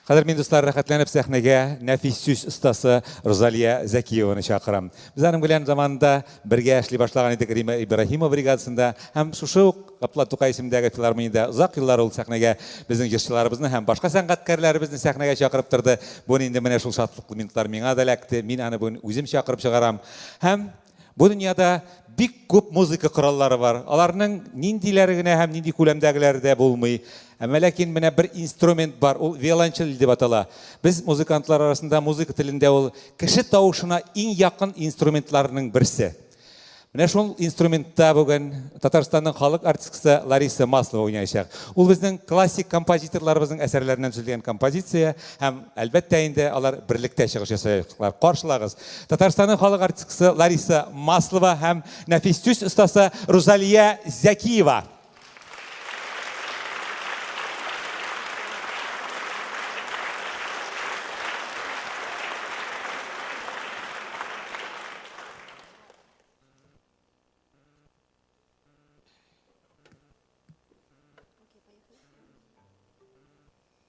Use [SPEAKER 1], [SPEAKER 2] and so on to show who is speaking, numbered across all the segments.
[SPEAKER 1] Хәзер мин, дуслар, рәхәтләнеп сәхнәгә нәфис сүз остасы Рузалия Зәкиеваны чакырам. Без аның белән заманында бергә эшли башлаган идек Рима Ибраһимова бригадасында һәм шушы ук Габдулла Тукай исемендәге филармониядә озак еллар ул сәхнәгә безнең җырчыларыбызны һәм башка сәнгатькәрләребезне сәхнәгә чакырып торды. Бүген инде менә шул шатлыклы минутлар миңа да эләкте, мин аны бүген үзем чакырып чыгарам һәм Бу дөньяда бик күп музыка кораллары бар. Аларның ниндиләре генә һәм нинди күләмдәгеләре дә булмый. Әмма ләкин менә бер инструмент бар, ул виолончель дип атала. Без музыкантлар арасында музыка телендә ул кеше тавышына иң якын инструментларның берсе. Менә шул инструментта бүген Татарстанның халык артисткасы Лариса Маслова уйнаячак. Ул безнең классик композиторларыбызның әсәрләреннән төзелгән композиция. һәм, әлбәттә инде, алар берлектә чыгыш ясаячаклар. Каршылагыз. Татарстанның халык артисткасы Лариса Маслова һәм нәфис төс остасы Рузалия Зәкиева.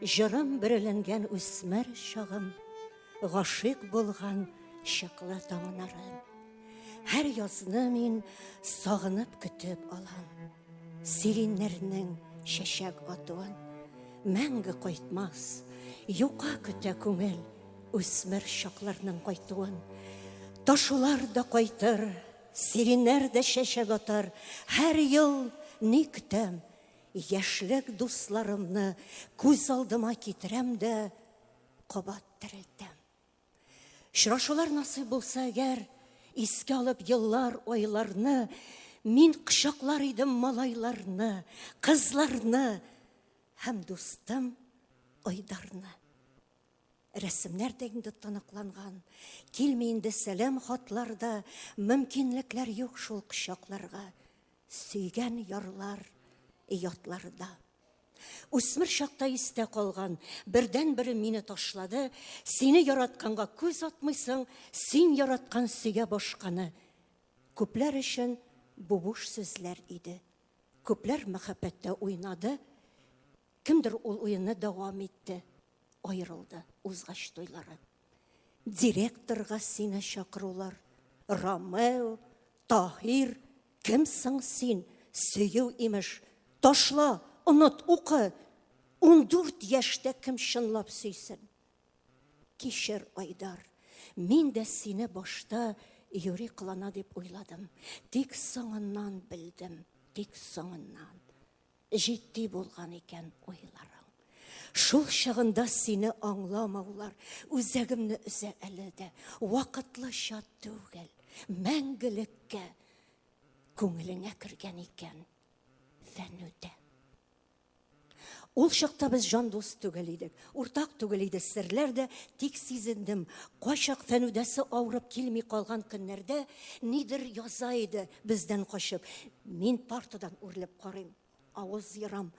[SPEAKER 2] Җырым бөреләнгән үсмер чагым, гашыйк булган чаклы таңнарым. Һәр язны мин сагынып көтеп алам. Сириннәрнең чәчәк атуын мәңге кайтмас. Юка көтә күңел үсмер чакларның кайтуын. Ташулар да кайтыр, сириннәр дә чәчәк атар. Һәр ел ни көтәм, Яшьлек дусларымны күз алдыма китерәм дә кабат терелтәм. Очрашулар насыйп булса әгәр, искә алып еллар, айларны, мин кочаклар идем малайларны, кызларны һәм дустым Айдарны. Рәсемнәр дә инде тоныкланган, килми инде сәлам хатлар да, мөмкинлекләр юк шул кочакларга. Сөйгән ярлар ятларда. Үсмер чакта истә калган, бердән бер мине ташлады, сине яратканга күз атмыйсың, син яраткан сөйгә башканы. Күпләр өчен бу буш сүзләр иде. Күпләр мәхәббәттә уйнады, кемдер ул уенны дәвам итте, аерылды, узгач туйлары. Директорга сине чакырулар. Ромео, Таһир, кем соң син? Сөю имеш. Ташла, онот, укы. 14 яшьтә кем чынлап сөйсен? Кишер Айдар, мин дә сине башта юри кылана дип уйладым. Тик соңыннан белдем, тик соңыннан. Җитди булган икән уйларың. Шул чагында сине аңламаулар үзәгемне өзә әле дә. Вакытлыча түгел, мәңгелеккә күңелеңә кергән икән фәнүдә. Ул чакта без җан дус түгел идек. Уртак түгел иде серләр дә, тик сизендем, кайчак Фәнүдәсе авырып килми калган көннәрдә нидер яза иде бездән качып. Мин партадан үрелеп карыйм, авыз ярам.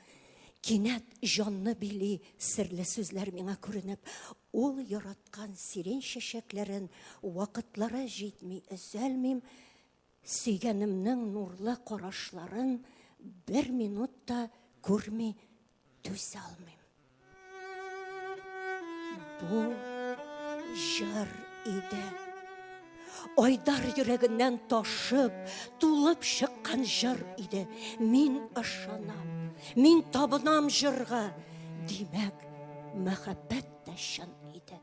[SPEAKER 2] Кинәт җанны били серле сүзләр миңа күренеп, ул яраткан сирень чәчәкләрен вакытлары җитми өзәлмим, сөйгәнемнең нурлы карашларын бер минут та күрми Түзә алмыйм. Бу җыр иде. Айдар йөрәгеннән ташып, тулып чыккан җыр иде. Мин ышанам, мин табынам җырга. Димәк, мәхәббәт тә чын иде.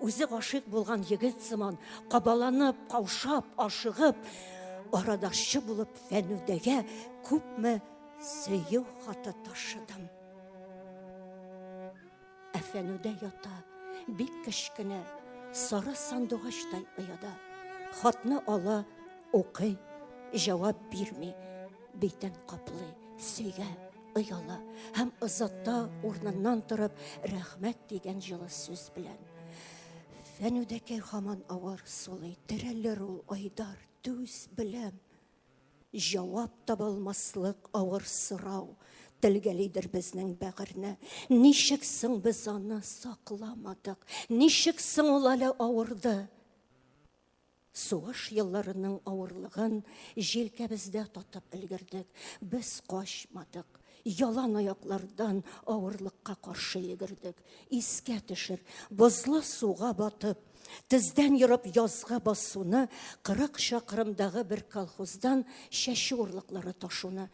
[SPEAKER 2] Үзе гашыйк булган егет сыман, кабаланып, каушап, ашыгып, арадашчы булып Фәнүдәгә күпме сөю хаты ташыдым. Ә Фәнүдә ята, бик кечкенә, сары сандугачтай ояда. Хатны ала, укый, җавап бирми, битен каплый, сөйгә. Ояла һәм озатта урныннан торып, рәхмәт дигән җылы сүз белән. Фәнүдәкәй хаман авыр сулый, терәлер ул айдар, түз беләм. Җавап табалмаслык авыр сорау, телгәлидер безнең бәгырьне. Ничек соң без аны сакламадык? Ничек соң ул әле авырды? Сугыш елларының авырлыгын җилкәбездә татып өлгердек. Без качмадык. Ялан аяклардан авырлыкка каршы йөгердек. Искә төшер, бозлы суга батып, Тездән йорып язгы басуны, кырык чакрымдагы бер колхоздан чәчү урлыклары ташуны.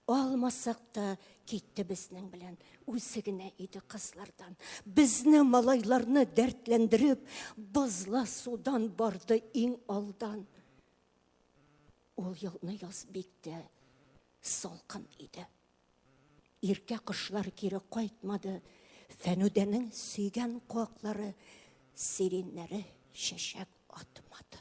[SPEAKER 2] Алмасак та, Китте безнең белән үзе генә иде кызлардан. Безне малайларны дәртләндереп, бозла судан барды иң алдан. Ул елны яз бик тә салкын иде. Иркә кышлар кире кайтмады. Фәнүдәнең сөйгән куаклары, сиреннәре чәчәк атмады.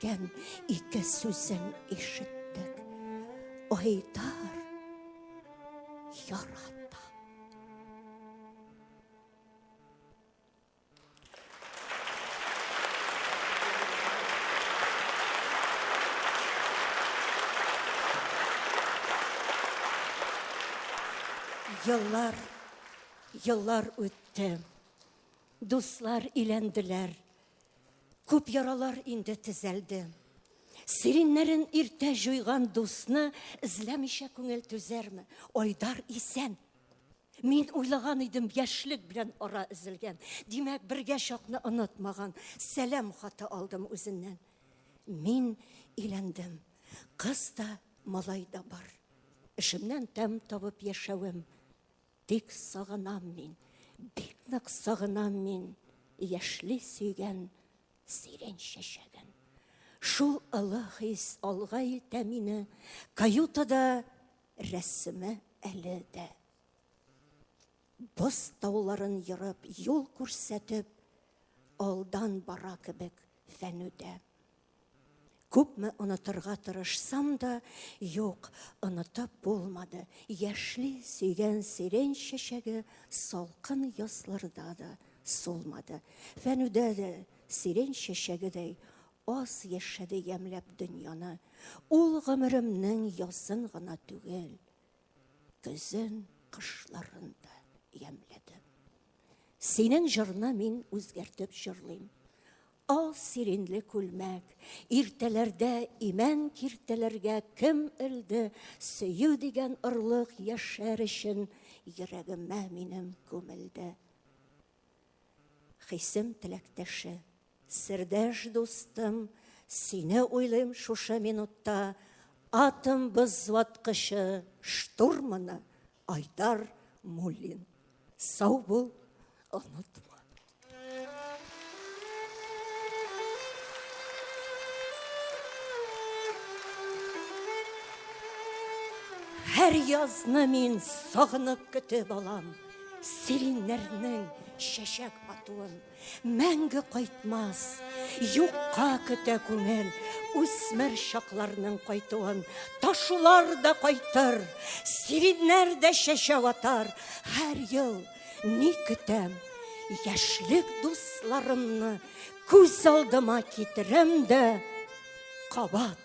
[SPEAKER 2] Кем ике сүзен ишеттек, Айдар ярат. Еллар, еллар үтте. Дуслар иләнделәр. Күп яралар инде тезәлде. Сиреннәрен иртә җуйган дусны эзләмичә күңел түзәрме? Айдар исән. Мин уйлаган идем, яшьлек белән ара эзелгән. Димәк, бергә чакны онытмаган. Сәлам хаты алдым үзеннән. Мин иләндем. Кыз да, малай да бар. Эшемнән тәм табып яшәвем. Бик сагынам мин, бик нык сагынам мин яшьли сөйгән сирень чәчәген. Шул ылы хис алга илтә мине каютада рәсеме әле дә. Боз тауларын ерып, юл күрсәтеп, алдан бара кебек фәнүдә. Күпме онытырга тырышсам да, юк, онытып булмады. Яшьли сөйгән сирень чәчәге салкын язларда да сулмады. Фәнүдә дә сирень чәчәгедәй аз яшәде ямьләп дөньяны. Ул гомеремнең язын гына түгел, көзен, кышларын да ямьләдем. Синең җырны мин үзгәртеп җырлыйм. Ал сиренле күлмәк, иртәләрдә имән киртәләргә кем элде, сөю дигән орлык яшәр өчен йөрәгемә минем күмелде. Хисем теләктәше Сердәш дустым, сине уйлыйм шушы минутта, атом бызлаткычы штурманы Айдар Муллин. Сау бул, онытма. Һәр язны мин сагынып көтеп алам, сириннәрнең чәчәк атуын. Мәңге кайтмас, юкка көтә күңел, үсмер чакларның кайтуын. Ташулар да кайтыр, сириннәр дә чәчәк атар. Һәр ел ни көтәм, яшьлек дусларымны күз алдыма китерәм дә, кабат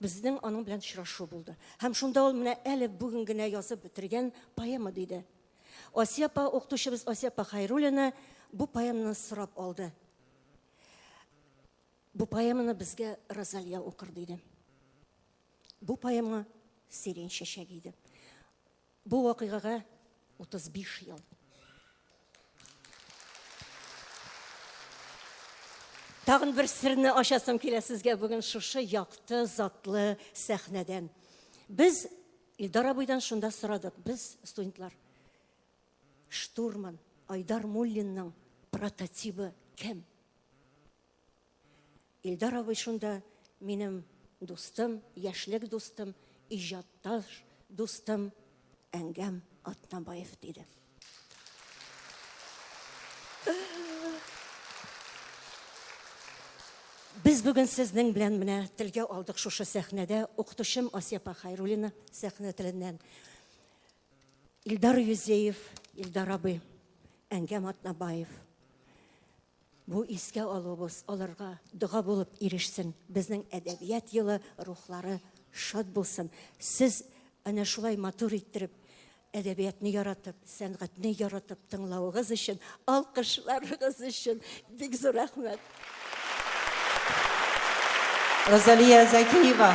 [SPEAKER 2] Безнең аның белән очрашу булды. Һәм шунда ул менә әле бүген генә язып бетергән поэма диде. Асия апа, укытучыбыз Асия апа Хайруллина бу поэманы сорап алды. Бу поэманы безгә Розалия укыр диде. Бу поэма Сирень чәчәге иде. Бу вакыйгага 35 ел. Тагын бер серне ачасым килә сезгә бүген шушы якты, затлы сәхнәдән. Без Илдар абыйдан шунда сорадык, без студентлар. Штурман Айдар Муллинның прототибы кем? Илдар абый шунда минем дустым, яшьлек дустым, иҗатташ дустым Әңгәм Атнабаев диде. Без бүген сезнең белән менә телгә алдык шушы сәхнәдә укытучым Асиапа Хайрулина сәхнә теленнән. Илдар Юзеев, Илдар абый, Әңгәм Атнабаев. Бу искә алуыбыз аларга дога булып ирешсен. Безнең әдәбият елы рухлары шат булсын. Сез әнә шулай матур иттереп, әдәбиятны яратып, сәнгатьне яратып тыңлавыгыз өчен, алкышларыгыз өчен бик зур рәхмәт.
[SPEAKER 3] Розалия
[SPEAKER 2] Закиева.